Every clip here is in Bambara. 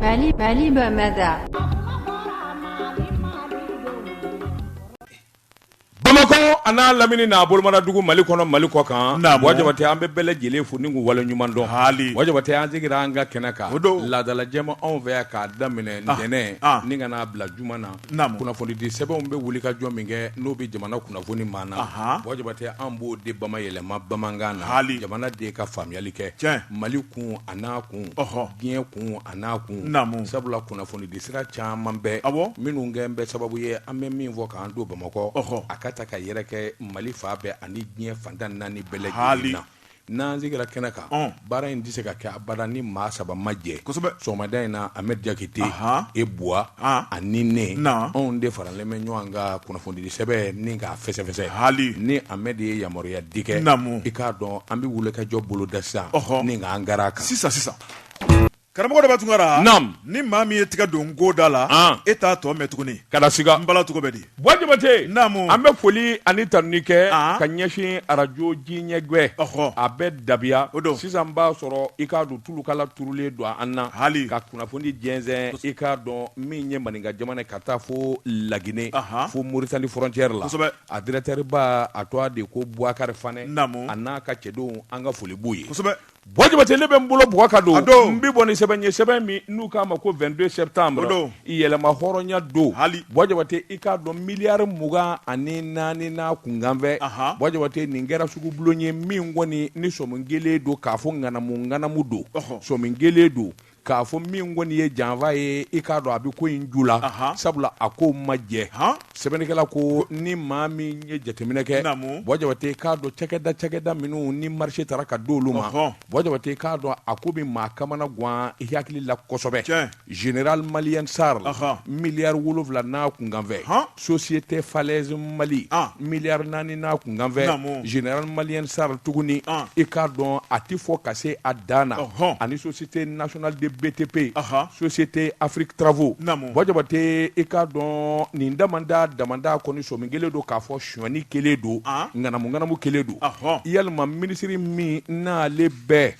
Mali Mali bamada bamakɔ a n'a lamini n'a bolomara dugu mali kɔnɔ mali kɔ kan wa jabatɛ an bɛ bɛɛ lajɛlen fo ni waleɲumandɔn hali wa an segira an ka kɛnɛ kan laadalajɛ ma anw fɛ yan k'a daminɛ ntɛnɛn ni ka na a bila juma na kunnafonidisɛbɛnw bɛ wulikajɔ min kɛ n'o bɛ jamana kunnafoni maa na wa jabatɛ an b'o de bama yɛlɛma bamanankan na hali jamanadenw ka faamuyali kɛ mali kun a n'a kun diɲɛ kun a n'a kun sabula kunnafonidisira caman bɛɛ minnu kɛlen bɛ sababu ye an bɛ min fɔ k'an to bamakɔ a ka taa ka yɛrɛkɛ mali fan bɛɛ ani diɲɛ fan tan ni naani bɛɛ la hali n'an sigira kɛnɛ kan baara in tɛ se ka kɛ abada ni maa saba ma jɛ sɔgɔmada in na amɛdi jakite ibu ani ne anw de faralen bɛ ɲɔgɔn kan kunnafonidi sɛbɛn ni k'a fɛsɛfɛsɛ hali ni amɛdi ye yamaruya di kɛ naamu i k'a dɔn an bɛ wulikajɔ boloda sisan ɔɔ ni an kɛra kan sisan sisan karamɔgɔ daba tunkara naamu ni maa min ye tigɛ don ko da la e t'a tɔ mɛn tuguni ka s an bala cogo bɛ di bɔn jabatɛ naamu an bɛ foli ani tanuni kɛ ka ɲɛsin arajo jiɲɛgbɛ a bɛ dabiya o don sisan b'a sɔrɔ i k'a dɔn tulukala turulen don an na hali ka kunnafoni jɛnsɛn i k'a dɔn min ye maninka jamana ka taa fo laginɛ fo moritani frontière la a dirɛkitɛriba a tɔgɔ de ko bukari fanɛ a n'a ka cɛdenw an ka foli b'u ye bɔn jabatɛ ne bɛ n bolo bugu ka don n bɛ bɔ ni sɛbɛn ye sɛbɛn min n'u k'a ma ko vingt-deux septembre amadu don yɛrɛmahɔrɔnya don hali bɔn jabatɛ i k'a dɔn miliyari mugan ani naani n'a kunkanfɛn bɔn jabatɛ nin kɛra sugubulon ye min kɔni ni sɔmi kɛlen don k'a fɔ ŋanamuŋanamu don sɔmi kɛlen don k'a fɔ min kɔni ye janfa ye i k'a dɔn a bɛ ko in ju la sabula a ko ma jɛ sɛbɛnnikɛla ko ni maa min ye jateminɛ kɛ bɔn jabatɛ k'a dɔn cɛda cɛda minnu ni marise tara k'a d'olu ma bɔn jabatɛ k'a dɔn a ko bɛ maa kamanagan i hakili la kosɛbɛ Zera maliya sara la miliyari wolowula n'a kunkanfɛ so si tɛ fa mali miliyari naani n'a kunkanfɛ zera maliya sara tuguni i k'a dɔn a tɛ fɔ ka se a dan na ani so si tɛ natina de bɛp yen so si tɛ afiribu tɛ i k'a dɔn nin da da da kɔnɔ sɔ min kelen don k'a fɔ sɔmi kɛlen don ŋanamuŋanamu kɛlen don walima minisiri min n'ale bɛ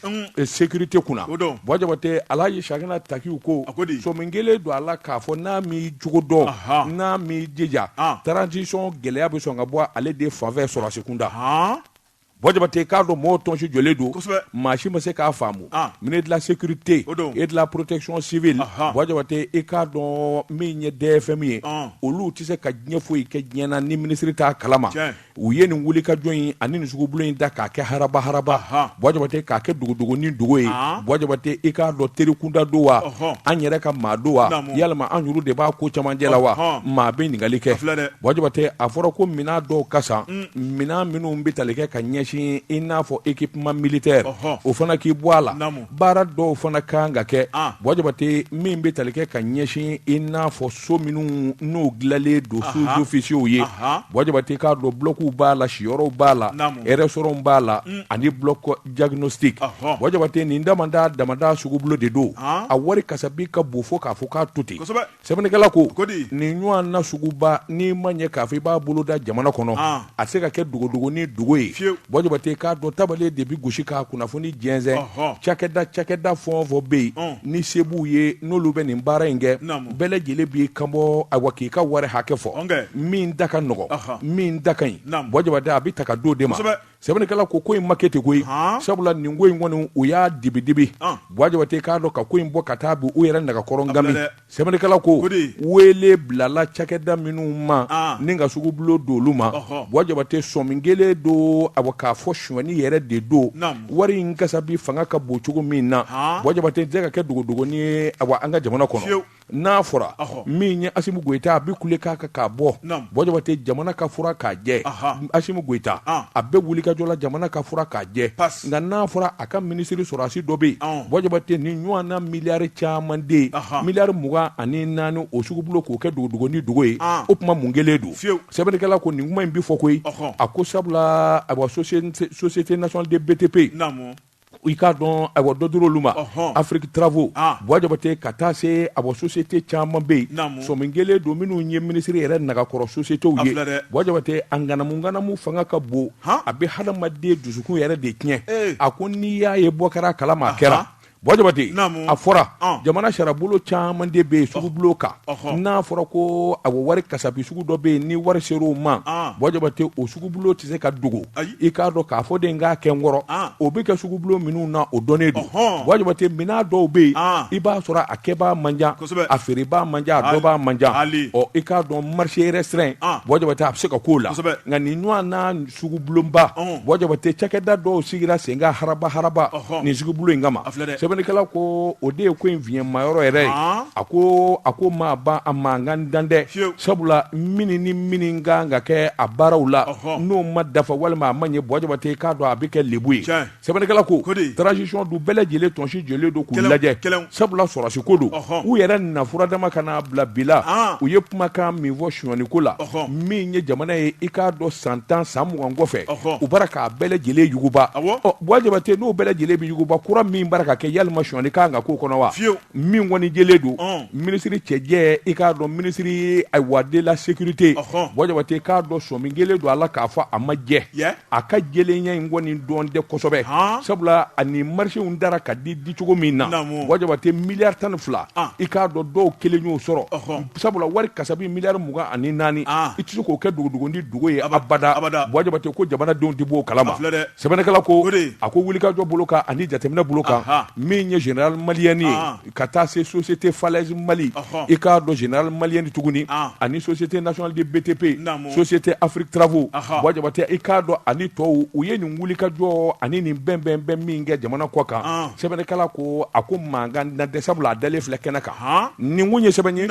sécurité kunna bɔn jabatɛ ala ye sa taki ko sɔmi kɛlen don a la k'a fɔ n'a m'a cogo dɔn n'a m'i jija transition gɛlɛya bɛ sɔn ka bɔ ale de fanfɛ sɔrɔdasi kunda Bɔ jabate k'a dɔn mɔgɔw tɔnsi jɔlen don maa si ma se k'a faamu ne de la sécurité et de la protection civile jabate e k'a dɔn min ye dɛ fɛn min ye olu tɛ se ka diɲɛ foyi kɛ diɲɛ na ni minisiri t'a kalama u ye nin wulikajɔ in ani nin sugubolo in da k'a kɛ haraba haraba bɔ jabate k'a kɛ dogodogo ni dogo ye bɔ jabate e k'a dɔn teri kunda don wa an yɛrɛ ka maa don wa yɛlɛma an de b'a ko cɛmancɛ la wa maa bɛ ɲininkali kɛ filɛ dɛ bɔ jabate a fɔra ko minɛn dɔw ka Minɛn minnu bɛ tali kɛ ka ɲɛsin i n'a fɔ équipement militaire ɔhɔ, o fana k'i bɔ a la, naamu, baara dɔw fana ka kan ka kɛ, an, Bɔ Jabate min bɛ tali kɛ ka ɲɛsin i n'a fɔ so minnu n'u dilanlen don sous officiers ye, anhan, Bɔ Jabate i k'a dɔn blocs b'a la siyɔrɔw b'a la, naamu, restaurants b'a la, un, ani bloc diagnostique, ɔhɔ, Bɔ Jabate nin damada damada sugubulo de don, an, a wari kasabi ka bon fo k'a fɔ k'a to ten, kosɛbɛ Sɛbɛnnikɛla ko nin ɲɔgɔnna suguba n'i ma ɲɛ k'a fɔ i b'a boloda jamana kɔnɔ a tɛ se ka kɛ dogodogo ni dogo ye bɔ jabate k'a dɔn tabale de bɛ gosi ka kunnafoni jɛnsɛn cakɛda cakɛda fɛn o fɛn bɛ yen ni se b'u ye n'olu bɛ nin baara in kɛ bɛɛ lajɛlen b'i kanbɔ awa k'i ka wari hakɛ fɔ min da ka nɔgɔ min da ka ɲi bɔ jabate a bɛ ta ka d'o de ma sɛbɛnnikɛla ko ko in ma kɛ ten koyi sabula nin ko in kɔni u y'a dibidibi bɔ jabate k'a dɔn ka ko in bɔ ka taa bila u yɛrɛ nagakɔrɔ nka bi sɛbɛnnikɛla ko wele bilala cakɛda minnu ma ni ka sugubulo d'olu ma bɔ jabate sɔmi kɛlen don a k'a fɔ sɔni yɛrɛ de don wari in kasabi fanga ka bon cogo min na bɔ jabate k'a kɛ dogodogonin ye a an ka jamana kɔnɔ n'a fɔra min ye asimi goyita a bɛ kule k'a kan k'a bɔ bɔ jabate jamana ka fura k'a jɛ asimi goyita a bɛ wulikajɔ la jamana ka fura k'a jɛ nka n'a fɔra a ka minisiri sɔrɔdasi dɔ bɛ yen bɔ jabate nin ɲɔgɔnna miliyari camanden miliyari mugan ani naani o sugubolo k'o kɛ dogodogo ni dogo ye o tuma mun kɛlen don sɛbɛnnikɛla ko nin kuma in bɛ fɔ koyi a ko sabula a société nationale des BTP i k'a dɔn ayiwa dɔ dira olu ma afrique travaux bɔ jabate ka taa se a bɔ sosiyete caman bɛ yen sɔmi kɛlen don minnu ye minisiri yɛrɛ nagakɔrɔ sosiyetew ye bɔ jabate a ŋanamuŋanamu fanga ka bon a bɛ hadamaden dusukun yɛrɛ de tiɲɛ a ko n'i y'a ye bɔ kɛra kalama kɛra bɔ jabate a fɔra jamana sariya bolo caman de bɛ yen sugubulo kan n'a fɔra ko a wari kasabi sugu dɔ bɛ yen ni wari sera o ma bɔ jabate o sugubulo tɛ se ka dogo i k'a dɔn k'a fɔ de k'a kɛ n kɔrɔ o bɛ kɛ sugubulo minnu na o dɔnnen don bɔ jabate minɛn dɔw bɛ yen i b'a sɔrɔ a kɛbaa man ca a feerebaa man ca a dɔnbaa man ca i k'a dɔn marché restreint bɔ jabate a bɛ se ka k'o la nka nin ɲɔgɔn sugubulonba ɔnhɔn Buwa Jabate cakɛda dɔw sigira sen kan haraba haraba ɔhɔn nin sugubulon in kama a filɛ dɛ sɛbɛnnikɛla ko o de ye ko in fiɲɛmayɔrɔ yɛrɛ ye Haan. a ko a ko ma ban a mankan dan tɛ Fiyewu. sabula minni ni minni ka kan ka kɛ a baaraw la Ɔhɔn. n'o ma dafa walima a ma ɲɛ Buwa Jabate k'a dɔn a bɛ kɛ lebu ye Tiɲɛ. Sɛbɛnnikɛla ko, o de ye, transition don bɛɛ lajɛlen tun sigilen don k'u lajɛ, kɛlɛw, sabula sɔrɔdasi ko don, ɔhɔ, u yɛrɛ nafura dama kan'a bila bila, an, u ye kumakan min fɔ sonyali ko la, ɔhɔ, min ye jamana ye i k'a dɔn san tan san mugan kɔfɛ, ɔhɔ, u bara k'a bɛɛ lajɛlen yuguba, awɔ, ɔ Buwa Jabate n'o bɛɛ lajɛlen bɛ yuguba kura min bara ka kɛ yalima sonyali ka kan ka k'o kɔnɔ wa? Fiyew, min kɔni jɛlen don, ɔn, minisiri cɛjɛ i k'a dɔn ministère ayiwa de la sécurité, ɔhɔ, Buwa Jabate k'a dɔn sɔmi jɛlen don a la k'a fɔ a ma jɛ, ya a ka jɛlenya in kɔni dɔn tɛ kosɛbɛ sabula ani marchéw dara ka di dicogo min na Buwa Jabate miliyari tan ni fila i k'a dɔn dɔw kelen y'o sɔrɔ sabula wari kasabi miliyari mugan ani naani i tɛ se k'o kɛ dogodogonin dogo ye abada Buwa Jabate ko jamanadenw tɛ b'o kalama sɛbɛnnikɛla ko a ko wulikajɔ bolo kan ani jateminɛ bolo kan min ye générale malienne ye ka taa se société falaise Mali i k'a dɔn générale malienne tuguni ani société nationale de BTP société Afrique travaux Buwa Jabate i k'a dɔn ani tɔw u ye nin wulikajɔ ani nin bɛnbɛn bɛn min kɛ jamana kɔ kan sɛbɛnnikɛla ko a ko mankan dan tɛ sabula a dalen filɛ kɛnɛ kan nin kun ye sɛbɛn ye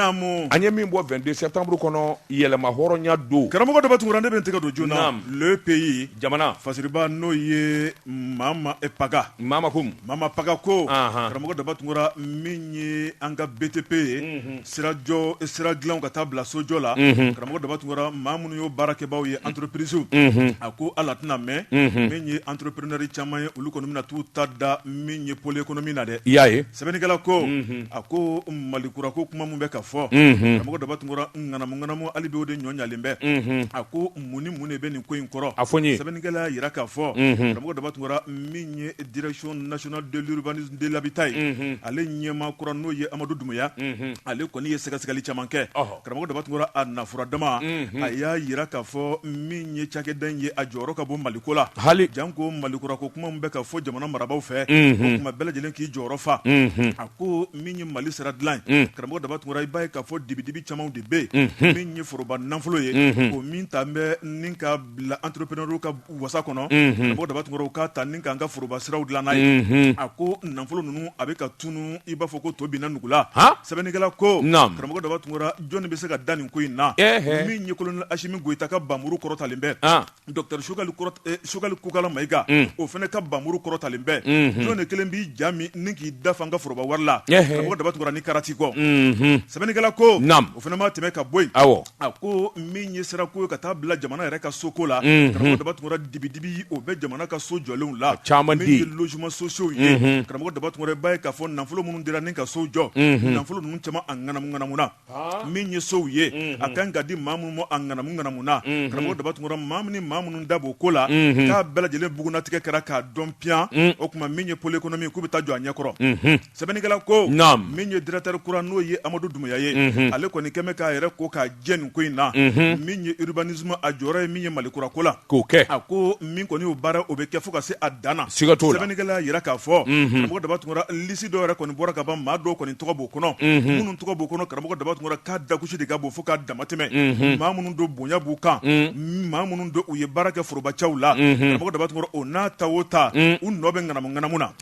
an ye min bɔ 22 septembre kɔnɔ yɛrɛmahɔrɔnya don karamɔgɔ Daba Tunkara ne bɛ n tɛgɛ don journal le pays jamana fasiriba n'o ye Mama paka mama ko mama paka ko karamɔgɔ daba tunkara min ye an ka BTP ye sirajɔ sira dilan ka taa bila sojɔ la karamɔgɔ daba tunkara maa minnu ye baarakɛbaaw ye entreprisew a ko ala tɛna mɛn min ye entrepreneur caman ye olu kɔni bɛna tuu ta da min ye pôle économique na dɛ i y'a ye sɛbɛnnikɛla ko a ko mali kura ko kuma min bɛ ka fɔ karamɔgɔ daba tunkara ŋanamu ŋanamu hali bi o de ɲɔlen bɛ a ko mun ni mun de bɛ nin ko in kɔrɔ a fɔ n ye sɛbɛnnikɛla y'a jira k'a fɔ karamɔgɔ daba tunkara min ye direction nationale de l'urbanisme de l'habitat ye ale ɲɛmaa kura n'o ye amadu dunbuya ale kɔni ye sɛgɛsɛgɛli caman kɛ karamɔgɔ daba tunkara a nafura dama a y'a jira k'a fɔ min ye cakɛda ye a jɔyɔrɔ ka bon maliko la hali janko mali kura ko kuma bɛ ka fɔ jamana marabagaw fɛ o tuma bɛɛ lajɛlen k'i jɔyɔrɔ fa a ko min ye mali sira dilan ye karamɔgɔ daba tunkara i b'a ye k'a fɔ dibidibi caman de bɛ yen min ye foroba nafolo ye o min ta bɛ ni ka bila entrepreneurw ka wasa kɔnɔ karamɔgɔ daba tunkara u k'a ta ni k'an ka foroba siraw dilan n'a ye a ko nafolo ninnu a bɛ ka tunun i b'a fɔ ko to binna nugu la sɛbɛnnikɛla ko karamɔgɔ daba tunkara jɔnni bɛ se ka da nin ko in na min ye kolonɛli asimi goyita ka npanmuru kɔrɔtalen bɛɛ Docteur Choguel Kokala Mayiga o fana ka npanmuru kɔrɔtalen bɛ jɔn de kelen b'i ja min ni k'i da fa an ka foroba wari la karamɔgɔ Daba Tunkara nin karati kɔ sɛbɛnnikɛla ko o fana ma tɛmɛ ka bɔ yen a ko min ye sira ko ye ka taa bila jamana yɛrɛ ka soko la karamɔgɔ Daba Tunkara dibi-dibi o bɛ jamana ka so jɔlenw la min ye logement sociaux ye karamɔgɔ Daba Tunkara i b'a ye k'a fɔ nafolo minnu dira ni ka so jɔ nafolo ninnu caman a ŋanamu-ŋanamuna. min ye sow ye a kan ka di maa minnu ma a ŋanamu-ŋanamuna karamɔgɔ daba tunkara maa minnu ni maa minnu da b'o ko la k'a bɛɛ lajɛlen bugunnatigɛ kɛra k'a dɔn piyan o tuma min ye pôle économique k'u bɛ taa jɔ a ɲɛ kɔrɔ sɛbɛnnikɛla ko min ye directeur kura n'o ye amadu dunbiya ye ale kɔni kɛ bɛ k'a yɛrɛ ko k'a jɛ nin ko in na min ye urbanisme a jɔyɔrɔ ye min ye mali kura ko la K'o kɛ a ko min kɔni y'o baara o bɛ kɛ fo ka se a dan na sɛbɛnnikɛla y'a jira k'a fɔ karamɔgɔ daba tunkara lisi dɔw yɛrɛ kɔni bɔra ka ban maa dɔw kɔni tɔgɔ b'u kɔnɔ minnu tɔgɔ b'u kɔnɔ karamɔgɔ daba tunkara k'a dakusi de ka bon fo ka damatɛmɛ maa minnu don bonya b'u kan maa minnu don u ye baara kɛ forobacɛw la karamɔgɔ daba tunkara o n'a ta o ta u nɔ bɛ ŋanamu ŋanamu na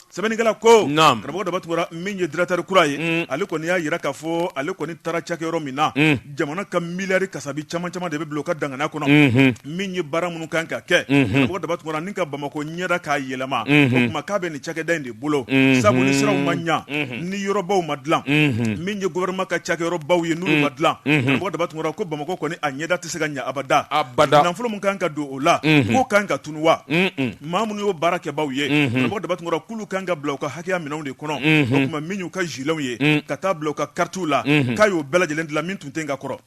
sɛbɛnnikɛla ko Naam. karamɔgɔ daba tunkara min ye directeur kura ye Mm. ale kɔni y'a jira k'a fɔ ale kɔni taara cakɛyɔrɔ min na Mm. jamana ka miliyari kasabi caman caman de bɛ bila o ka danganiya kɔnɔ Mhm. min ye baara minnu kan ka kɛ Mhm. karamɔgɔ daba tunkara ni ka bamako ɲɛda k'a yɛlɛma Mhm. o tuma k'a bɛ nin cakɛda in de bolo Mhm. sabu ni siraw ma ɲa Mhm. ni yɔrɔbaw ma dilan Mhm. min ye gouvernement ka cakɛyɔrɔbaw ye n'olu ma dilan Mhm. karamɔgɔ daba tunkara ko bamako kɔni a ɲɛda tɛ se ka ɲa abada Abada. nafolo min kan ka don o la Mhm. k'o kan ka tunu wa Mhm. maa minnu y'o baara kɛbaaw ye karamɔgɔ daba tunkara k'olu kan ka bila u ka hakɛya minɛnw de kɔnɔ o tuma min y'u ka giletw ye ka taa bila u ka karitiw la k'a y'o bɛɛ lajɛlen dilan min tun tɛ ka kɔrɔ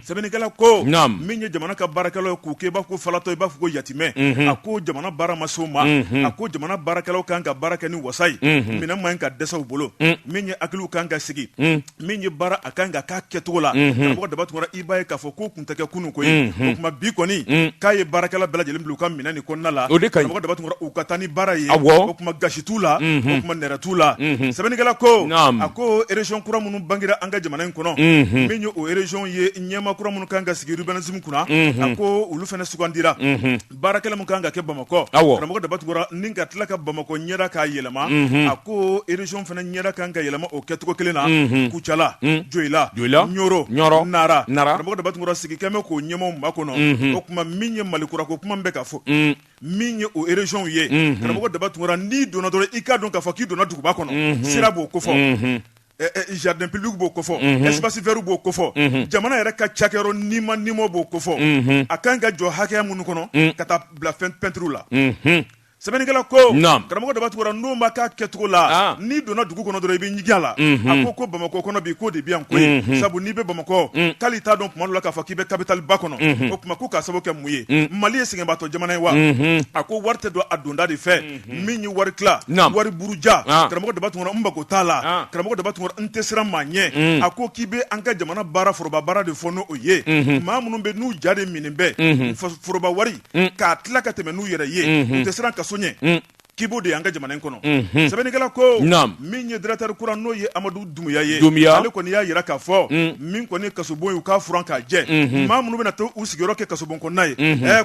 sɛbɛnnikɛla ko min ye jamana ka baarakɛlaw k'u kɛ i b'a fɔ ko falatɔ i b'a fɔ ko yatimɛ a ko jamana baara ma s'o ma a ko jamana baarakɛlaw kan ka baara kɛ ni wasa ye minɛn man ɲi ka dɛsɛ u bolo min ye hakiliw kan ka sigi min ye baara a kan ka k'a kɛcogo la karamɔgɔ daba tunkara i b'a ye k'a fɔ k'o tun tɛ kɛ kunun koyi o tuma bi kɔni k'a ye baarakɛla bɛɛ lajɛlen bila u ka minɛn in kɔnɔna la karamɔgɔ daba tunkara u ka taa ni baara ye o tuma gasi t'u la o tuma nɛrɛ t'u la sɛbɛnnikɛla ko a ko région kura minnu bangera an ka jamana in kɔnɔ min ye o région ye ɲɛmaa kura minnu kan ka sigi urbanisme kunna a ko olu fana sugandira baara kelen min kan ka kɛ bamakɔ karamɔgɔ daba tunkara ni ka tila ka bamakɔ ɲɛda k'a yɛlɛma a ko région fana ɲɛda kan ka yɛlɛma o kɛcogo kelen na kucala joyila ɲɔrɔ nara karamɔgɔ daba tunkara sigi kɛ bɛ k'o ɲɛmaaw makɔnɔ o tuma min ye mali kura ko kuma bɛ ka fɔ min ye o régionw ye karamɔgɔ daba tunkara n'i donna dɔrɔn i k'a dɔn k'a fɔ k'i donna duguba kɔnɔ sira b'o kofɔ jardin public b'o kofɔ espace vert b'o kofɔ jamana yɛrɛ ka cakɛyɔrɔ ni ma ni ma b'o kofɔ a ka kan ka jɔ hakɛya minnu kɔnɔ ka taa bila pɛntiriw la sɛbɛnnikɛla ko karamɔgɔ daba tunkara n' ma ka kɛcogo la n'i donna dugu kɔnɔ dɔrɔn i bɛ ɲigin a la a ko ko bamakɔ kɔnɔ bi ko de bɛ yan koyi sabu n'i bɛ bamakɔ k'ale t'a dɔn tuma dɔ la k'a fɔ k'i bɛ kapitali ba kɔnɔ o tuma ko ka sababu kɛ mun ye mali ye sɛgɛnbaatɔ jamana ye wa a ko wari tɛ don a donda de fɛ min ye wari tila wari buruja karamɔgɔ daba tunkara u mako t'a la karamɔgɔ daba tunkara u tɛ siran maa ɲɛ a ko k'i bɛ an ka jamana baara foroba baara de fɔ n' o ye maa minnu bɛ n'u ja de minnu bɛ foroba wari k'a tila ka tɛmɛ n'u yɛrɛ ye u tɛ siran kaso ɲɛ k'i b'o de y'an ka jamana in kɔnɔ sɛbɛnnikɛla ko min ye directeur kura n'o ye amadu dunbiya ye dunbiya ale kɔni y'a jira k'a fɔ min kɔni kasobon ye u k'a furan k'a jɛ maa minnu bɛna taa u sigiyɔrɔ kɛ kasobon kɔnɔna ye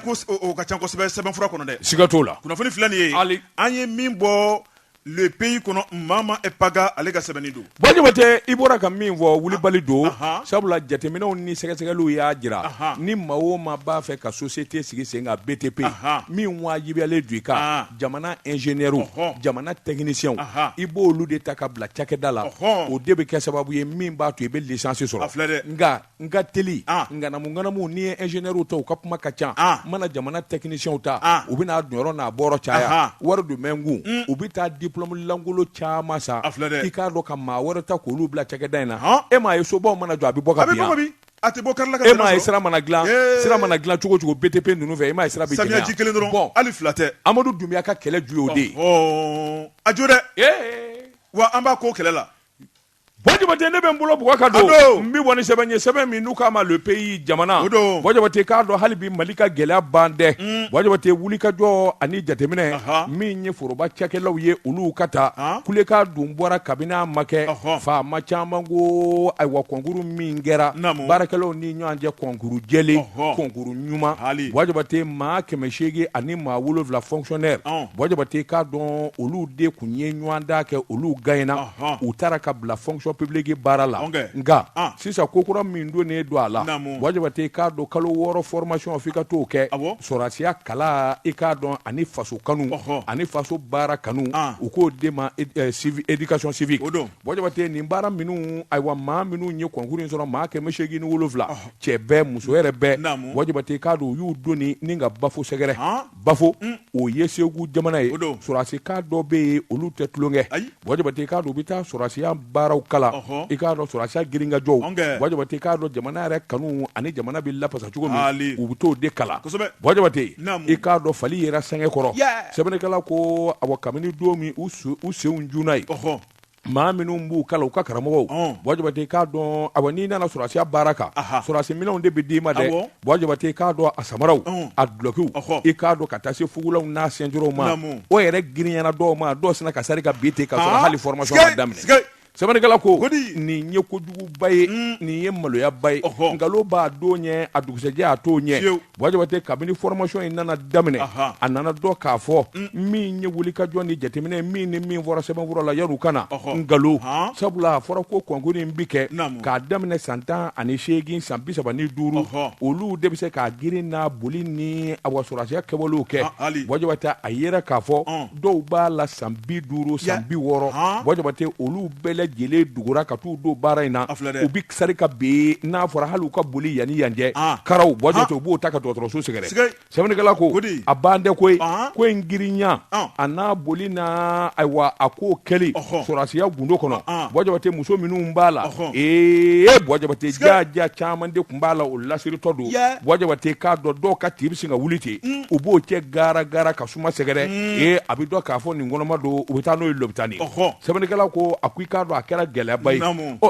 ko ka ca sɛbɛ sɛbɛnfura kɔnɔ dɛ siga t'o la kunnafoni filɛ nin ye Ali. an ye min bɔ le pays kɔnɔ mama paga ale ka sɛbɛnni don Buwa Jabate i bɔra ka min fɔ wulibali don Ahan. sabula jateminɛw ni sɛgɛsɛgɛliw y'a jira Ahan. ni maa o maa b'a fɛ ka société sigi sen kan btp Ahan. min wajibiyalen don i kan Ahan. jamana ingénieurs Ɔhɔn. jamana techniciens Ahan. i b'olu de ta ka bila cakɛda la Ɔhɔn. o de bɛ kɛ sababu ye min b'a to i bɛ licence sɔrɔ A filɛ dɛ. nka N ka teli ŋanamuŋanamu n'i ye ingénieurs ta u ka kuma ka ca mana jamana techniciens ta u bɛna a donyɔrɔ n'a bɔyɔrɔ caya wari dɔ bɛ min kun u bɛ taa diplôme lankolon caman san a filɛ i k'a dɔn ka maa wɛrɛ ta k'olu bila cakɛda in na h e m'a ye sobaw mana jɔ a bɛ bɔ a e ye sira mana dilan sira mana dilan cogo o cogo btp ninnu fɛ e ma sira samiyaji kelen dɔrɔn hali fila tɛ amadu dunbiya ka kɛlɛ ju y'o de ye a jo dɛ wa an b'a kɔ kɛlɛ la Buwa Jabate ne bɛ n bolo bugɔ ka don n bɛ bɔ ni sɛbɛn ye sɛbɛn min n'u k'a ma le pays jamana Buwa Jabate k'a dɔn hali bi mali ka gɛlɛya ban dɛ Buwa Jabate wuli kajɔ ani jateminɛ min ye foroba cakɛlaw ye olu ka taa kule k' dun bɔra kabini a ma kɛ faama caman ko ayiwa kɔnkuru min kɛra baarakɛlaw ni ɲɔgɔn cɛ kɔnkuru jɛlen kɔnkuru ɲuman hali Buwa Jabate maa kɛmɛ seegin ani maa wolonwula fonctionnaires Buwa Jabate k'a dɔn olu de tun ye ɲɔgɔndan kɛ olu gaɲena u taara ka bila fonction publique baara la nka sisan ko kura min donnen don a la Buwa Jabate i k'a dɔn kalo wɔɔrɔ formation f'i ka t'o kɛ sɔrasiya kalan i k'a dɔn ani faso kanu ani faso baara kanu u k'o de ma éducation civique Buwa Jabate nin baara minnu ayiwa maa minnu ye concours in sɔrɔ maa kɛmɛ seegin ni wolonwula cɛ bɛɛ muso yɛrɛ bɛɛ Buwa Jabate i k'a dɔn u y'u doni ɲun ka bafo sɛgɛrɛ. bafo o ye segu jamana ye sɔrasi kan dɔ bɛ yen olu tɛ tulonkɛ Buwa Jabate i k'a dɔn u bɛ taa sɔrasiya baaraw kalan i k'a dɔn sɔrasiya girinkajɔ Buwa Jabate k'a dɔn jamana yɛrɛ kanu ani jamana bɛ lafasa cogo min u bɛ t'o de kalan Buwa Jabate i k'a dɔn fali yɛrɛ sɛgɛkɔrɔ sɛbɛnnikɛla ko awa kabini don min u sen cunna yen maa minnu b'u kalan u ka karamɔgɔw ɔn Buwa Jabate i k'a dɔn awɔ n'i nana sɔrasiya baara kan aha sɔrasi minɛnw de bɛ d'i ma dɛ awɔ Buwa Jabate i k'a dɔn a samaraw ɔn a dulokiw ɔhɔ i k'a dɔn ka taa se fugulaw n'a sɛnturɔnw ma naamu o yɛrɛ girinyana dɔw ma dɔw sinna ka sari ka bin ten k'a sɔrɔ aa hali formation ma sikei daminɛ sikei sɛbɛnnikɛla ko godi nin ye kojuguba ye uun nin ye maloyaba ye ɔhɔ nkalon b'a don ɲɛ a dugusɛjɛ a t'o ɲɛ fiyewu Buwa Jabate kabini formation in nana daminɛ a nana dɔn k'a fɔ min ye wulikajɔ ni jateminɛ min ni min fɔra sɛbɛnfura la yan u kana na nkalon sabula a fɔra ko kɔnkurun in bɛ kɛ k'a daminɛ san tan ani seegin san bisaba ni duuru olu de bɛ se k'a girin n'a boli ni awa sɔrasiya kɛwalew kɛ Buwa Jabate a jɛra k'a fɔ dɔw b'a la san bi duuru san bi wɔɔrɔ Buwa Jabate olu bɛɛ lajɛlen dugura ka taa don baara in na u bɛ sari ka bin n'a fɔra hali ka boli yan ani yan cɛ karaw Buwa Jabate u b'u ta ka dɔgɔtɔrɔso sɛgɛrɛ sɛbɛnnikɛla ko a ban tɛ ko ko in girinya a n'a boli na ayiwa a ko kɛlen sɔrasiya gundo kɔnɔ Buwa Jabate muso minnu b'a la ee Buwa Jabate jaja caman de tun b'a la u lasiritɔ don Buwa Jabate k'a dɔn dɔw ka tibisi ka wuli ten u b'u cɛ gara gara ka kuma sɛgɛrɛ ee a bɛ dɔn k'a fɔ nin kɔnɔma don u bɛ taa n'o ye tan ni sɛbɛnnikɛla ko a ko i k'a dɔn a kɛra gɛlɛyaba ye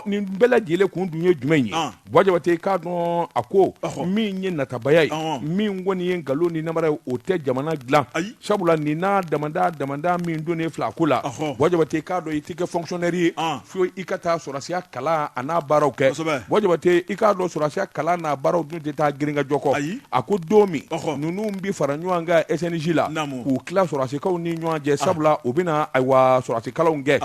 nin bɛɛ lajɛlen kun dun ye jumɛn ye Buwa Jabate i k'a dɔn a ko min ye natabaya ye min kɔni ye nkalon ni nanbara ye o tɛ jamana dilan sabula ni dama dama min donnen filɛ a ko la Buwa Jabate k'a dɔn i tɛ kɛ fɔnkisɔnɛri ye fo i ka taa sɔrɔsiya kalan a n'a baaraw kɛ Buwa Jabate i k'a dɔn sɔrɔsiya kalan n'a baaraw dun tɛ taa girinkajɔ kɔ ayi a ko don min ninnu bɛ fara ɲɔgɔn kan ɛzji la k'u tila sɔrɔsikanw ni ɲɔgɔn cɛ sabula u bɛna ayiwa sɔrɔsikalan kɛ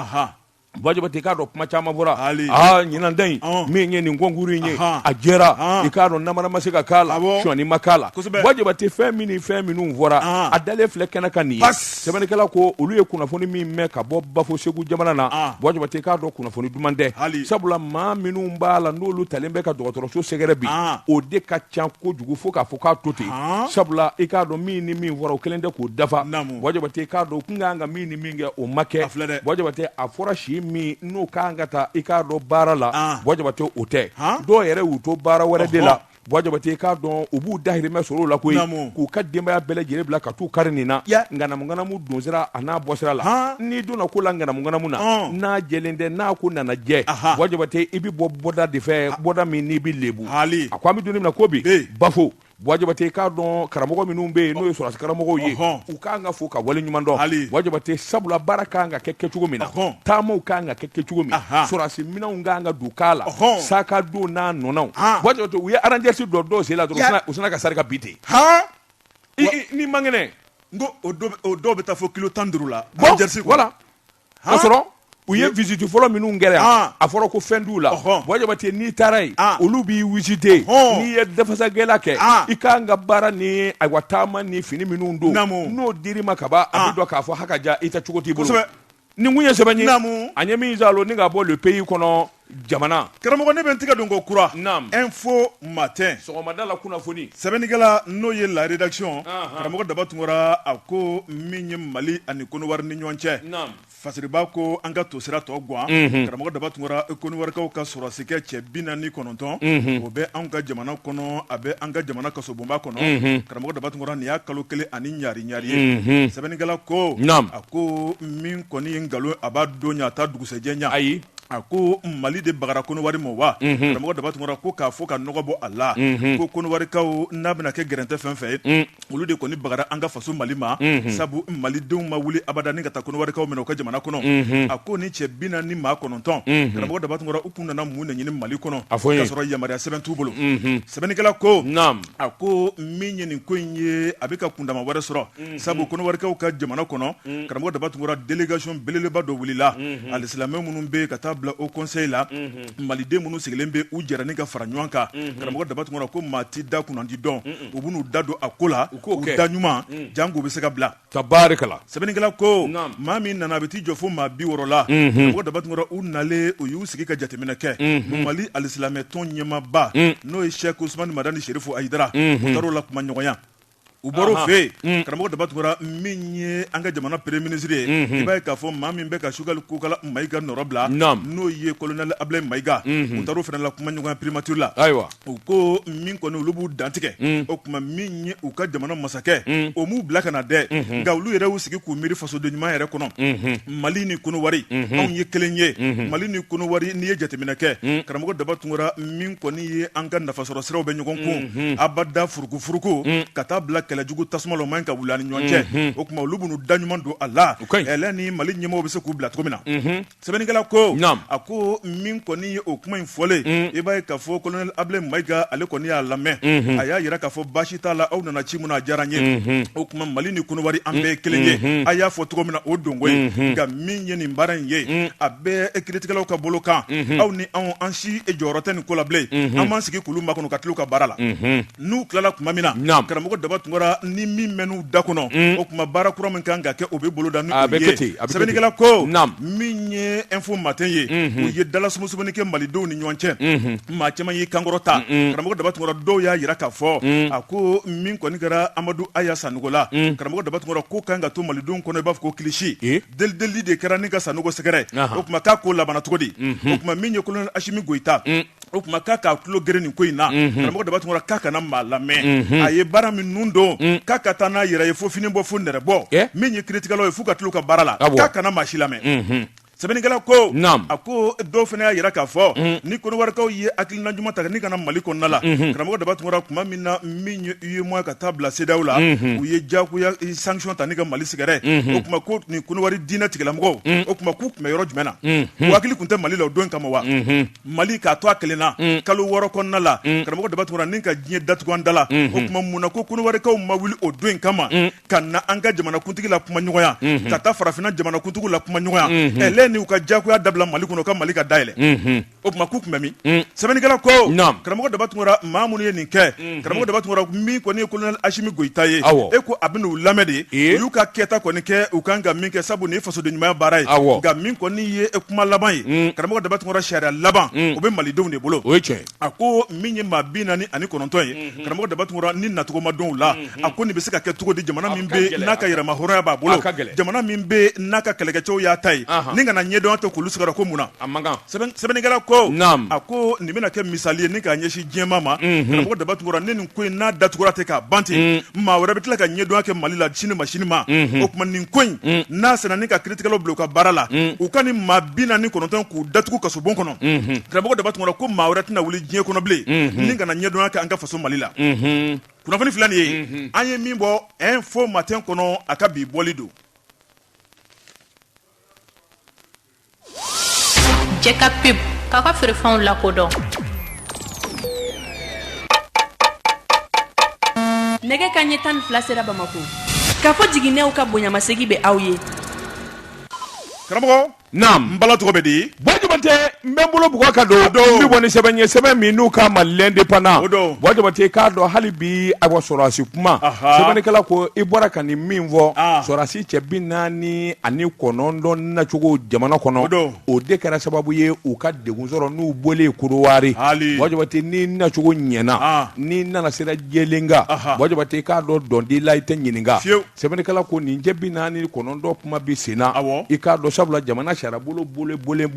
Buwa Jabate k'a dɔn kuma caman bɔra hali ɲinanta in min ye nin kɔnkurun in ye a jɛra i k'a dɔn nanbara ma se ka k'a la sɔi ma k'a la Buwa Jabate fɛn min fɛn minnu fɔra a dalen filɛ kɛnɛ kan nin sɛbɛnnikɛla ko olu ye kunnafoni min mɛn ka bɔ bafo segu jamana na ah. Buwa Jabate k'a dɔn kunnafoni duman tɛ sabula maa minnu b'a la n'olu talen bɛ ka dɔgɔtɔrɔso sɛgɛrɛ bi ah. o de ka ca kojugu fo k'a fɔ k'a to ten ah. sabula i k'a dɔn min ni min fɔra o kelen tɛ k'o dafa Buwa Jabate k'a dɔn k'u tun ka kan ka min ni min kɛ o ma kɛ Buwa Jabate a fɔra si min n'o ka kan ka taa i k'a dɔn baara la Buwa Jabate o tɛ dɔw yɛrɛ y'u to baara wɛrɛ de la Buwa Jabate k'a dɔn u b'u dahirimɛ sɔrɔ la ko k'u ka denbaya bɛɛ lajɛlen bila ka taa u kari nin na ŋanamuŋanamu donsira a n'a bɔsira la n'i donna ko la ŋanamuŋanamu na n'a jɛlen tɛ n'a ko nana jɛ Buwa Jabate i bɛ bɔ bɔda de fɛ bɔda min n'i bɛ lebu hali a ko an bɛ don min na ko bi bafo Buwa Jabate k'a dɔn karamɔgɔ minnu bɛ yen n'o ye sɔrɔsi karamɔgɔw ye u ka kan ka fo ka wale ɲuman dɔn hali Buwa Jabate sabula baara ka kan ka kɛ kɛ cogo min na taama ka kan ka kɛ kɛ cogo min minɛnw ka kan ka don k'a la Ɔhɔn. sac à dos n'a nɔnɔw Han. waati dɔ to u ye rangers don dɔw sen la dɔrɔn u Ya- sina- u sina ka sarika bi ten han I- i- n'i man kɛnɛ n ko o dɔ bɛ- o dɔw bɛ taa fo kilo tan ni duuru la Bon, Algérie kɔnɔ. voilà Han? ka sɔrɔ u ye visite fɔlɔ minnu kɛra yan Han. a fɔra ko fɛn t'u la Ɔhɔn. waati dɔ te n'i taara yen Han. olu b'i visite Ɔhɔn. n'i ye dafasagɛla kɛ Han. i kan ka baara ni ayiwa taama ni fini minnu don Naamu. n'o dir'i ma ka ban a Han. bɛ dɔn k'a fɔ haka ja i ta cogo t'i bolo kosɛbɛ nin kun ye sɛbɛn ye naamu a ɲɛ min zalo ni ka bɔ le pays kɔnɔ jamana karamɔgɔ ne bɛ n tɛgɛ don ko kura naamu info matin sɔgɔmada la kunnafoni sɛbɛnnikɛla n'o ye la rédaction karamɔgɔ daba tunkara a ko min ye mali ani konowari ni ɲɔgɔn cɛ naamu fasiriba ko an ka tosira tɔ gwan karamɔgɔ daba tunkara koniwarikaw ka sɔrɔdasikɛ cɛ bi naani kɔnɔntɔn o bɛ anw ka jamana kɔnɔ a bɛ an ka jamana kasobonba kɔnɔ karamɔgɔ daba tunkara nin y'a kalo kelen ani ɲari ɲare ye sɛbɛnnikɛla ko a ko min kɔni ye nkalon a b'a don a taa dugusɛjɛɲa ayi a ko mali de bagara kowari ma wa karamɔgɔ daba tunkara ko k'a fɔ ka nɔgɔ bɔ a la ko kowarikaw n'a bɛna kɛ gɛrɛntɛ fɛn fɛn ye olu de kɔni bagara an ka faso mali ma sabu malidenw ma wuli abada ka taa kowarikaw minɛ u ka jamana kɔnɔ a ko ni cɛ bi naani ni maa kɔnɔntɔn karamɔgɔ daba tunkara u tun nana mun de ɲini mali kɔnɔ a fɔ y'a sɔrɔ yamaruya sɛbɛn t'u bolo sɛbɛnnikɛla ko a ko min ye nin ko in ye a bɛ ka kundama wɛrɛ sɔrɔ mhm. sabu kɔnɔwarikaw ka jamana kɔnɔ mhm. karamɔgɔ daba tunkara délégation belebeleba dɔ wulila mhm. alisilamɛ minnu bɛ ka taa bila haut conseil la maliden minnu sigilen bɛ u jɛra ni ka fara ɲɔgɔn kan karamɔgɔ daba tunkara ko maa tɛ da kunnandi dɔn u bɛn'u da don a ko la u da ɲuman janko u bɛ se ka bila Ka baara kalan sɛbɛnnikɛla ko maa min nana a bɛ t'i jɔ fo maa bi wɔɔrɔ la karamɔgɔ daba tunkara u nalen u y'u sigi ka jateminɛ kɛ mali alisilamɛ tɔn ɲɛmaaba n'o ye sɛki usumani madani serifu ayidara u taar'o lakumaɲɔgɔnya u bɔr'o fɛ yen karamɔgɔ daba tunkara min ye an ka jamana premier ministre ye i b'a ye k'a fɔ maa min bɛ ka sogɛli kokala mayiga nɔrɔ bila n'o ye kolonɛli abulayi mayiga u taara o fana lakumaɲɔgɔnya primature la ayiwa u ko min kɔni olu b'u dantigɛ mm. o tuma min ye u ka jamana masakɛ mm. o m'u bila ka na dɛ mm-hmm. nka olu yɛrɛ y'u sigi k'u miiri fasoden ɲuman yɛrɛ kɔnɔ mm-hmm. mali ni konowari mm-hmm. anw ye kelen ye mali ni konowari n'i ye jateminɛ kɛ mm. karamɔgɔ daba tunkara min kɔni ye an ka nafasɔrɔ siraw bɛ ɲɔgɔn kun abada furukufuruku ka taa bila kɛlɛjugu tasuma la o man kan ka wuli an ni ɲɔgɔn cɛ o tuma olu bɛn'u da ɲuman don a la ɛlɛ ni mali ɲɛmɔgɔw bɛ se k'u bila cogo min na Sɛbɛnnikɛla ko nka a ko min kɔni ye o kuma in fɔlen i b'a ye k'a fɔ kolonɛli abulayi mayiga ale kɔni y'a lamɛn a y'a jira k'a fɔ basi t'a la aw nana ci min na a diyara n ye o tuma mali ni konowari an bɛɛ kelen ye a y'a fɔ cogo min na o don nka min ye nin baara in ye a bɛ kiiritigɛlaw ka bolo kan aw ni anw an si jɔyɔrɔ tɛ nin ko la bilen an b'an sigi k'olu makɔnɔ ka tila u ka baara la n'u tilala tuma min na karamɔgɔ daba tunkara ni min bɛ n'u da kɔnɔ mm. o tuma baara kura min kan ka kɛ o bɛ boloda sɛbɛnnikɛla ko min ye info matin ye mm-hmm. u ye dalasumuni kɛ malidenw ni ɲɔgɔn cɛ mm-hmm. maa caman y'i kan kɔrɔta karamɔgɔ daba tunkara dɔw y'a jira k'a fɔ mm. a ko min kɔni kɛra amadu aya sanɔgɔ la mm. karamɔgɔ daba tunkara k'o kan ka to malidenw kɔnɔ i b'a fɔ ko kisi eh? delideli de kɛra ni ka sanɔgɔ sɛgɛrɛ o tuma k'a ko labanna cogo di mm-hmm. o tuma min ye kolonɛli asimi goyita o tuma k'a k'a tulo geren nin ko in na karamɔgɔ daba tunkara k'a kana maa lamɛn a ye baara min nun don k'a ka taa n'a yɛrɛ ye fo fini bɔ fo nɛrɛbɔ min ye kiritigɛlaw ye f'u ka to u ka baara la k'a kana maa si lamɛn sɛbɛnnikɛla ko a ko dɔw fana y'a jira k'a fɔ ni kodiwarikaw ye hakilina ɲuman ta ni ka na mali kɔnɔna la karamɔgɔ daba tunkara tuma min na min ye UEMOA ka taa bila CEDEAO la u ye diyagoya sanction ta ni ka Mali sɛgɛrɛ o tuma ko nin Kodiwari diinɛ tigilamɔgɔw o tuma k'u tun bɛ yɔrɔ jumɛn na u hakili tun tɛ Mali la o don in kama wa. Mali k'a to a kelen na kalo wɔɔrɔ kɔnɔna la karamɔgɔ daba tunkara ni ka diɲɛ datugu an da la o tuma mun na ko kodiwarikaw ma wuli o don in kama ka na an ka jamanakuntigi lakumaɲɔgɔnya ka taa farafinna jamanakuntigi lakumaɲɔgɔnya ni u ka jagoya dabila mali kɔnɔ ka mali ka da yɛlɛn o tuma k'u tun bɛ min sɛbɛnnikɛla ko karamɔgɔ daba tunkara maa minnu ye nin kɛ karamɔgɔ daba tunkara min kɔni ye kolonɛli asimi goyita ye e ko a b'u lamɛn de u y'u ka kɛta kɔni kɛ u kan ka min kɛ sabu ni fasodenɲumanya baara ye nka min kɔni ye e kuma laban ye karamɔgɔ daba tunkara sariya laban o bɛ malidenw de bolo o cɛ a ko min ye maa bi naani ani kɔnɔntɔn ye karamɔgɔ daba tunkara ni nacogo malidenw la a ko nin bɛ se ka kɛ cogo di jamana min bɛ n'a ka yɛrɛmahɔrɔnya b'a bolo jamana min bɛ n'a ka kɛlɛkɛcɛ y'a ta ye ni ka na ɲɛdɔn tɛ kulu sigiyɔrɔ ko mun na sɛbɛnnikɛla ko a ko nin bɛna kɛ misali ye ni k'a ɲɛsin diɲɛ ma karamɔgɔ daba tunkara ni nin ko in n'a datugura ten k'a ban ten maa wɛrɛ bɛ tila ka ɲɛdɔn kɛ mali la sini ma sini ma o tuma nin ko in n'a sera ni ka kiritigɛlaw bila u ka baara la u ka nin maa bi naani ni kɔnɔntɔn k'u datugu kasobon kɔnɔ karamɔgɔ daba tunkara ko maa wɛrɛ tɛna wuli diɲɛ kɔnɔ bilen ni ka na ɲɛdɔn kɛ an ka faso mali la kunnafoni filɛ nin ye an ye min bɔ info matin kɔnɔ a ka bi bɔli don Cɛ ka pep k'a ka feerefɛnw lakodɔn nɛgɛ kanɲɛ tan ni fila sera bamakɔ k'a fɔ jiginnenw ka bonyamasegin bɛ aw ye karamɔgɔ na n bala tɔgɔ bɛ di bɔ jabatɛ n bɛ n bolo bugu ka don don bɛ bɔ ni sɛbɛn ye sɛbɛn min n'u ko a ma l'indépendant o don bɔ jabatɛ k'a dɔn hali bi a wa sɔrɔdasi kuma sɛbɛnnikɛla ko i bɔra ka nin min fɔ sɔrɔdasi cɛ bi naani ani kɔnɔntɔn nacogo jamana kɔnɔ o de kɛra sababu ye u ka degun sɔrɔ n'u bɔlen korowari bɔjabate ni nacogo ɲɛna n'i nana sira jɛlen kan bɔjabate k'a dɔn dɔndi la i tɛ ɲininka sɛbɛnnikɛla ko nin cɛ bi naani kɔnɔntɔn kuma bɛ senna i k'a dɔn sabula jamana sira bolo bololen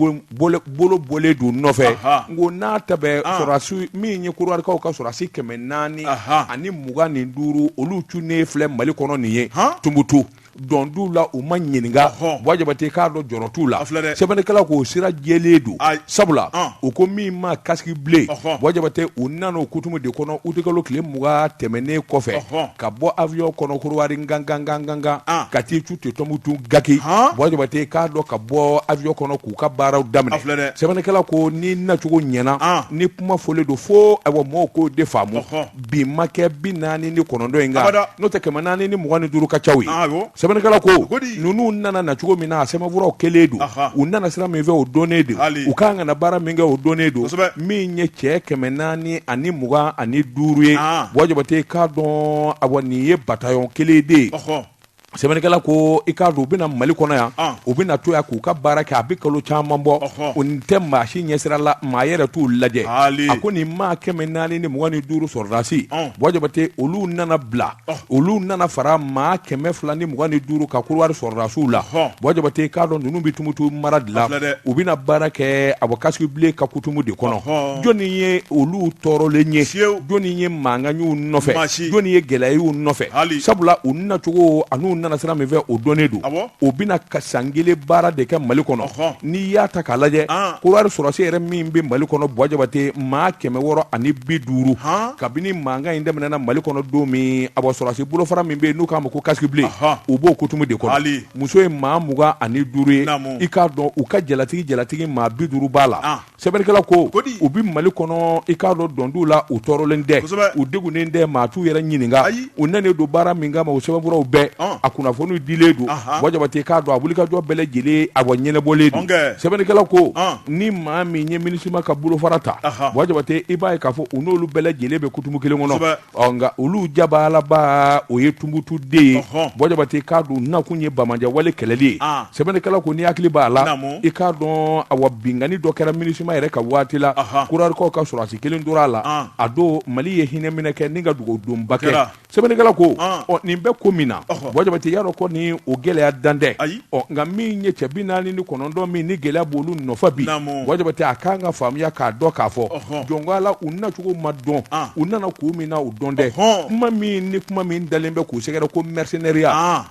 don nɔfɛ n ko n'a ta sɔrɔsiw min ye korowarikaw ka sɔrɔsi kɛmɛ naani ani mugan ni duuru olu cunnen filɛ mali kɔnɔ nin ye tumbutu dɔn t'u la u ma ɲininka ɔhɔn bɔjabate k'a dɔn jɔrɔ t'u la a filɛ dɛ sɛbɛnnikɛla ko sira jɛlen don Ayi. sabula Ɔn. u ko min ma kasiki ble Ɔhɔn. bɔjabate u nana o kutumu de kɔnɔ utikalo tile mugan tɛmɛnen kɔfɛ Ɔhɔn. ka bɔ avion kɔnɔ korowari ngangangangangan An. ka t'i cun ten tumutu gaki Han. bɔjabate k'a dɔn ka bɔ avion kɔnɔ k'u ka baaraw daminɛ A filɛ dɛ. sɛbɛnnikɛla ko ni nacogo ɲɛna An. ni kuma fɔlen don fo ayiwa mɔgɔw k'o de faamu Ɔhɔn. bi makɛ bi naani ni kɔnɔntɔn in kan n'o tɛ kɛmɛ naani ni mugan ni duuru ka ca ye sɛbɛnnikɛla ko ninnu nana na cogo min na a sɛbɛnfuraw kɛlen don u nana sira min fɛ o dɔnnen don u ka kan ka na baara min kɛ o dɔnnen don min ye cɛ kɛmɛ naani ani mugan ani duuru ye bɔjabate k'a dɔn awa nin ye batayɔn kelen de ye sɛbɛnnikɛla ko i k'a dɔn u bɛ na mali kɔnɔ yan ah. u bɛna to yan k'u ka baara kɛ a bɛ kalo caman bɔ o nin tɛ maa si ɲɛsira la maa yɛrɛ t'u lajɛ a ko nin maa kɛmɛ naani ni mugan ni duuru sɔrɔdasi ah. bɔjabate olu nana bila ah. olu nana fara maa kɛmɛ fila ni mugan ni duuru kan kuruwari sɔrɔdasiw la bɔjabate k'a dɔn ninnu bɛ tumutu mara de la u bɛna baara kɛ a bɔ kasiki ble ka kutumu de kɔnɔ jɔnni ye olu tɔɔrɔlen ye jɔnni ye mankan jɔnni ye gɛlɛya y'u nɔfɛ sabula u nacogo an'u nana sira min fɛ o dɔnnen don u bɛna san kelen baara de kɛ mali kɔnɔ n'i y'a ta k'a lajɛ korowari sɔrɔsi yɛrɛ min bɛ mali kɔnɔ bɔjabate maa kɛmɛ wɔɔrɔ ani bi duuru kabini mankan in daminɛna mali kɔnɔ don min a sɔrɔsi bolo fara min bɛ yen n'u k'a ma ko kasiki ble u b'o kutumu de kɔnɔ muso ye maa mugan ani duuru ye i k'a dɔn u ka jalatigi jalatigi maa bi duuru b'a la sɛbɛnnikɛla ko ko di u bɛ mali kɔnɔ i k'a dɔn dɔndiw la u tɔɔrɔlen tɛ Kosɛbɛ. u degunnen tɛ maa t'u yɛrɛ ɲininka Ayi. u nalen don baara min kama o sɛbɛnfuraw bɛɛ Ɔn. a kunnafoniw dilen don Ahan. bɔjabate k'a dɔn a wulikajɔ bɛɛ lajɛlen a wa ɲɛnabɔlen don Ɔnkɛ. sɛbɛnnikɛla ko Ɔn. ni maa min ye minisima ka bolofara ta Ahan. bɔjabate i b'a ye k'a fɔ u n'olu bɛɛ lajɛlen bɛ kutumu kelen kɔnɔ Kosɛbɛ. ɔ nka olu jabalaba o ye tumbutu de ye Ɔhɔn. bɔjabate k'a dɔn nakun ye banbaanci wale kɛlɛli ye Ah. sɛbɛnnikɛla ko n'i hakili b'a la Naamu. i k'a dɔn awa binkanni dɔ kɛra minisima yɛrɛ ka waati la Aha. korowarikaw ka sɔrɔdasi kelen tora a la Ah. a don mali ye hinɛ minɛ kɛ ni ka dugawu-donba kɛ Kɛra. sɛbɛnnikɛla ko Ah. ɔ nin bɛɛ ko min na Ɔhɔ. bɔjabate y'a dɔn kɔni o gɛlɛya dan tɛ Ayi. ɔ nka min ye cɛ bi naani ni kɔnɔntɔn min ni gɛlɛya b'olu nɔfɛ bi bɔ jabate a kan ka faamuya k'a dɔn k'a fɔ jɔn ko la u nacogo ma dɔn u nana ko min na o dɔn dɛ kuma min ni kuma min dalen bɛ k'u sɛgɛrɛ ko mɛrisɛnɛriya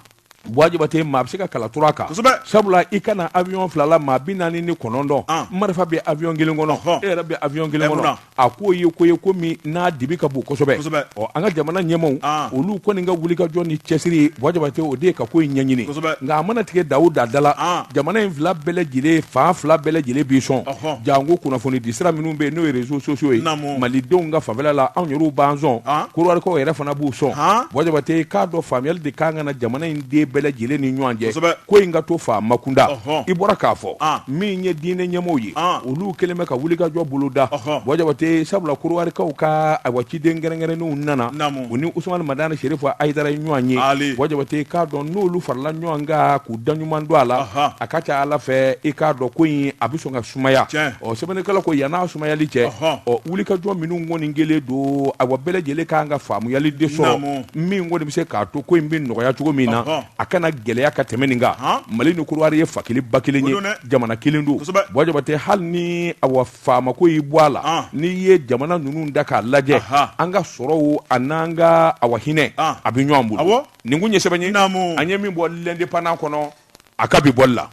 bɔ jabate maa bɛ se ka kala turu a kan sabula i ka na awyɔn fila la maa bi naani ni kɔnɔntɔn marifa bɛ awyɔn kelen kɔnɔ e yɛrɛ bɛ awyɔn kelen kɔnɔ a ko ye ko ye ko min n'a dibi ka bon kosɛbɛ kosɛbɛ ɔ an ka jamana ɲɛmaw ah. olu kɔni ka wuli ka jɔ ni cɛsiri ye bɔ jabate o de ye ka ko in ɲɛɲini kosɛbɛ nka a mana tigɛ da o da la ah. jamana in fila bɛɛ lajɛlen fan fila bɛɛ lajɛlen b'i sɔn janko kunnafoni di sira minnu bɛ yen n'o ye reseaux sociaux ye malidenw ka fanfɛla la anw yɛrɛw b'an sɔn kodiwarikaw ah. yɛrɛ fana b'u sɔn bɔ jabate k'a dɔn faamuyali de kan ka na jamana in den bɛɛ lajɛlen ni ɲɔgɔn cɛ ko in ka to faamakunda i bɔra k'a fɔ min ye diinɛ ɲɛmɔgɔ ye olu kɛlen bɛ ka wuli ka jɔ boloda bɔ jabate sabula kodiwarikaw ka awa ciden kɛrɛnkɛrɛnnenw nana u ni usumani madani serifu hayidara ɲɔgɔn ye bɔ jabate k'a dɔn n'olu farala ɲɔgɔn kan k'u da ɲuman don a la a ka ca ala fɛ i k'a dɔn ko in a bɛ sɔn ka sumaya ɔ sɛbɛnnikɛla ko yann'a sumayali cɛ ɔ wuli ka jɔ minnu kɔni kɛlen don awa bɛɛ lajɛlen k'an ka faamuyali de sɔrɔ min o de bɛ se k'a to ko in bɛ nɔgɔya cogo min na a kana gɛlɛya ka tɛmɛ nin kan mali ni kodiwari ye fa kelen ba kelen ye jamana kelen don bɔ jabate hali ni awa faamako y'i bɔ a la n'i ye jamana ninnu da k'a lajɛ an ka sɔrɔw an'an ka awa hinɛ a bɛ ɲɔgɔn bolo nin ye sɛbɛnni ye an ye min bɔ l'indépendant kɔnɔ a ka bi bɔli la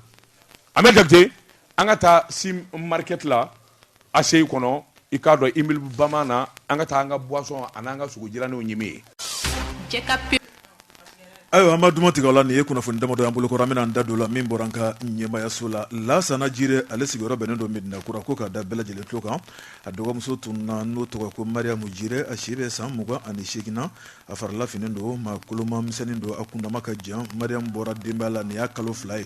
bɔ jabate an ka taa si marikɛti la ACI kɔnɔ i k'a dɔn immeuble bamanan na an ka taa an ka buwasɔn ani an ka sogo jiraniw ɲimi yen ayiwa an ma duman tigɛ la nin ye kunnafoni damadɔ an bolokɔrɔ an bɛna da don a la min bɔra an ka ɲɛmayaso la lasana jire ale sigiyɔrɔ bɛnnen don mɛdinakura ko k'a da bɛɛ lajɛlen tulo kan a dɔgɔmuso tununna n'o tɔgɔ ko mariamu jiri a si bɛ san mugan ani segin na a farilafin don maa kolomamisɛnnin don a kundama ka jan mariamu bɔra denbaya la nin y'a kalo fila ye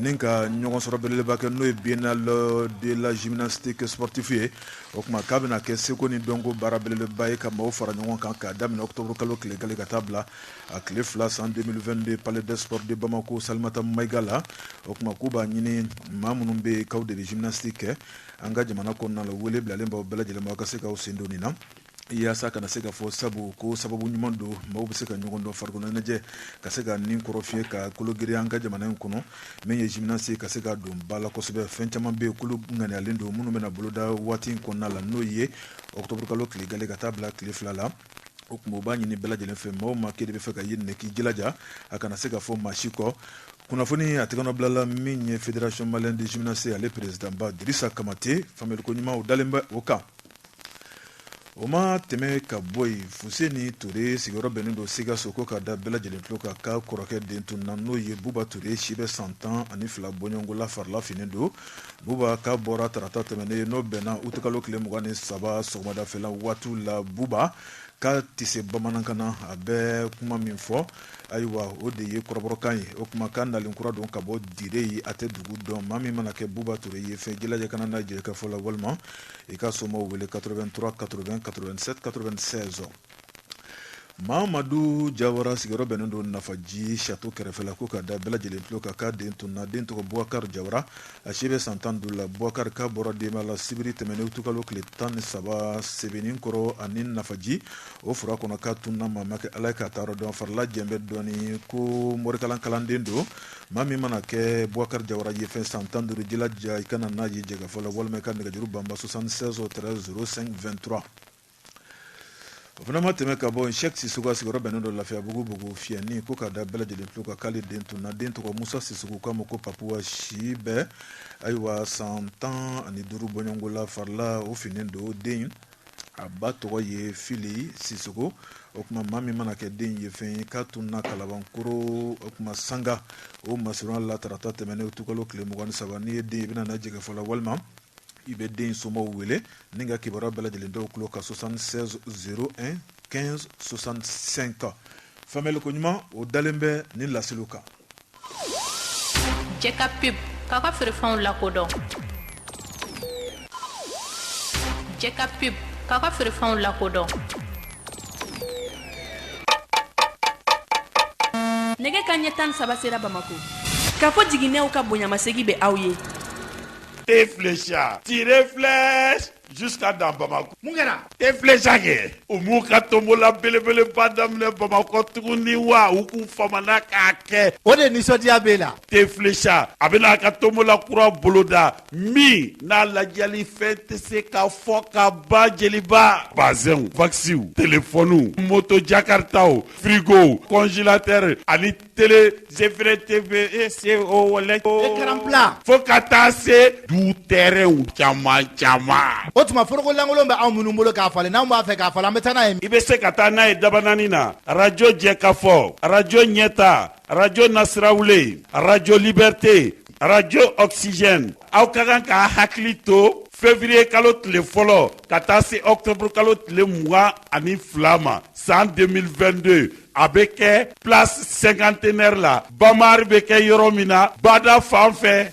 Ni ka ɲɔgɔn sɔrɔ belebeleba kɛ n'o ye biennale de la gymnastique sportive ye o tuma k'a bɛna kɛ seko ni dɔnko baara belebeleba ye ka maaw fara ɲɔgɔn kan k'a daminɛ ɔkutɔburukalo tile gale ka taa bila a tile fila san 2022 palais des sports de bamakɔ salamatu mayiga la o tuma k'u b'a ɲini maa minnu bɛ yen k'aw de bɛ gymnastique kɛ an ka jamana kɔnɔna na wele bilalen b'aw bɛɛ lajɛlen ma a ka se k'aw sen don nin na yasa kana se ka fɔ sabu ko sababu ɲuman don maaw bɛ se ka ɲɔgɔn dɔn farikoloɲɛnajɛ ka se ka nin kɔrɔfiye ka kologiri an ka jamana in kɔnɔ min ye jiminasi ka se ka don ba la kosɛbɛ fɛn caman bɛ k'olu ŋaniyalen don minnu bɛna boloda waati in kɔnɔna la n'o ye ɔkutɔburukalo tile gale ka taa bila tile fila la o tuma u b'a ɲini bɛɛ lajɛlen fɛ maaw ma k'e de b'a fɛ ka ye nin k'i jilaja a kana se ka fɔ maa si kɔ kunnafoni a tɛgɛnɔbilala min ye federation malienne de gymnastique ale perezidanba dirisa kamate faamuyaliko ɲuman o dalen bɛ o kan o ma tɛmɛ ka bɔ yen fuseni ture sigiyɔrɔ bɛnnen don sikaso ko k'a da bɛɛ lajɛlen tulo kan k'a kɔrɔkɛ den tunna n'o ye buba ture si bɛ san tan ani fila bɔɲɔgɔnko la farila finnen don buba k'a bɔra tarata tɛmɛnen ye n'o bɛnna utikalo tile mugan ni saba sɔgɔmadafɛla waati la buba k'a tɛ se bamanankan na a bɛ kuma min fɔ ayiwa o de ye kɔrɔbɔrɔkan ye o tuma k'a nalen kura don ka bɔ dire ye a tɛ dugu dɔn maa min mana kɛ buba ture ye fɛn jilaja ka na n'a ye jɛkafɔ la walima i ka somaw wele 83 80 87 96 mamadu jawara sigiyɔrɔ bɛnnen don nafaji sato kɛrɛfɛla ko k'a da bɛɛ lajɛlen tulo kan k'a den tunna den tɔgɔ buwakari jawara a si bɛ san tan duuru la buwakari k'a bɔra denba la sibiri tɛmɛnen utikalo tile tan ni saba sebenin kɔrɔ ani nafaji o fura kɔnɔ k'a tunna maa ma kɛ ala ye k'a taayɔrɔ dɔn farila jɛlen bɛ dɔɔni ko morikalan kalanden don maa min mana kɛ buwakari jawara ye fɛn san tan duuru jilaja i ka na n'a ye jɛkafɔ la walima i ka nɛgɛjuru banba 76 13 05 23 o fana ma tɛmɛ ka bɔ yen sɛki sisɔkɔ a sigiyɔrɔ bɛnnen don lafiyabugu bugufiyɛni ko k'a da bɛɛ lajɛlen tulo kan k'ale den tunna den tɔgɔ musa sisɔkɔ k'a ma ko papu a si bɛ ayiwa san tan ani duuru bɔɲɔgɔnko la farila o finnen don den a ba tɔgɔ ye fili sisɔkɔ o tuma maa min mana kɛ den ye fɛn k'a tunna kalabankoro o tuma sanga o masurunya la tarata tɛmɛnen utikalo tile mugan ni saba n'i ye den ye i bɛna na jɛkafɔ la walima i bɛ den somaw wele ni ka kibaruya bɛɛ lajɛlen da u tulo kan 76 01 15 65 faamuli koɲuman o dalen bɛ nin laseliw kan jɛka pub k'a ka feerefɛnw lakodɔn jɛka pub k'a ka feerefɛnw lakodɔn nɛgɛ kanɲɛ tan saba sera bamako kafo jiginɛw ka bonyamasegi bɛ aw ye tire filɛ Jusqu'à dans Bamako mun kɛra te filɛsa kɛ u m'u ka tombola belebeleba daminɛ Bamakɔ tuguni wa u k'u famana k'a kɛ o de nisɔndiya b'e la te filɛsa a bɛna a ka tombola kura boloda min n'a ladiyalifɛn tɛ se ka fɔ ka ban jeliba bazɛnw wakisiw telefɔniw moto jakaritaw firigow kɔnzelatɛri ani tele zefere teve e se o wale o ekaranpla fo ka taa se du tɛrɛnw caman caman o tuma foroko lankolon bɛ anw minnu bolo k'a falen n'anw b'a fɛ k'a falen an bɛ taa n'a ye i bɛ se ka taa n'a ye dabanani na arajo jɛkafɔ arajo ɲɛta arajo nasirawule arajo libɛrite arajo ɔkisijɛni aw ka kan k'a hakili to fevriyekalo tile fɔlɔ ka taa se ɔktɔburukalo tile mugan ani fila ma san 2022 a bɛ kɛ place cinquantenaire la Bama Art bɛ kɛ yɔrɔ min na bada fan fɛ